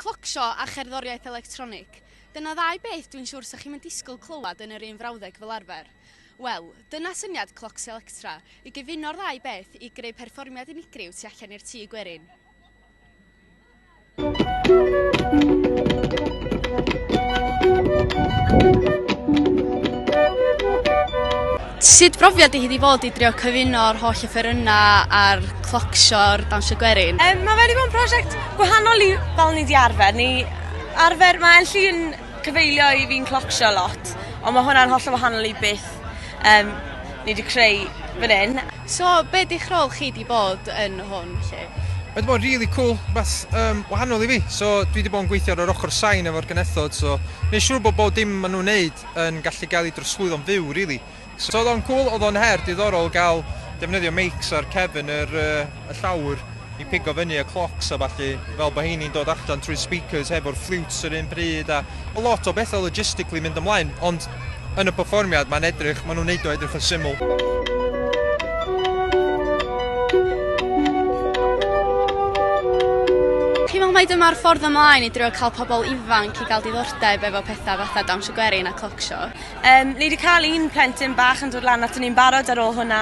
Clocsio a cherddoriaeth electronig, dyna ddau beth dwi'n siwr 'sa chi'm yn disgwyl clywed yn yr un frawddeg fel arfer. Wel, dyna syniad Clocsio Electra, i gyfuno'r ddau beth i greu perfformiad unigryw tu allan i'r tŷ gwerin. Sut brofiad i hi 'di fod i drio cyfuno'r holl offerynnau a'r clocsio'r dawnsio gwerin? Um, mae wedi bod yn prosiect gwahanol i fel ni di arfer. Ni arfer, mae Elli yn cyfeilio i fi'n clocsio lot, ond mae hwnna'n holl o wahanol i beth um, ni wedi creu fan hyn. So, be di'ch rôl chi di bod yn hwn, lle? Mae wedi bod really cool, beth um, wahanol i fi. So, dwi wedi bod yn gweithio ar yr ochr sain efo'r genethod, so neu siŵr bod bod dim maen nhw'n neud yn gallu gael ei drosglwyddo'n fyw rili. So oedd o'n cŵl, oedd o'n her diddorol gael defnyddio meics ar cefn yr yy y llawr i pigo fyny y clocs a ballu fel bod heini'n dod allan trwy speakers hefo'r ffliwts yr un pryd a ma' lot o bethau logistically mynd ymlaen ond yn y perfformiad mae'n edrych, maen nhw'n neud o edrych yn syml. Fi'n meddwl mai dyma'r ffordd ymlaen i drio cael pobl ifanc 'di cael diddordeb efo petha fatha dawnsio gwerin a cloc sio. Yym ni 'di cael un plentyn bach yn dod lan aton ni'n barod ar ôl hwnna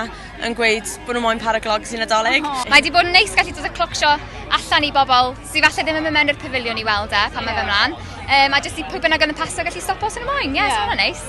yn gweud bod nhw moyn para glogs i Nadolig. Mae 'di bod yn neis gallu dod â cloc sio allan i bobl sy falle ddim yn mynd mewn i'r pafiliwn i weld e pan mae fe mlan. Yym a jyst i pwy bynnag oedd yn pasio gallu stopo os o'n nhw moyn. Ie, so hwnna'n neis.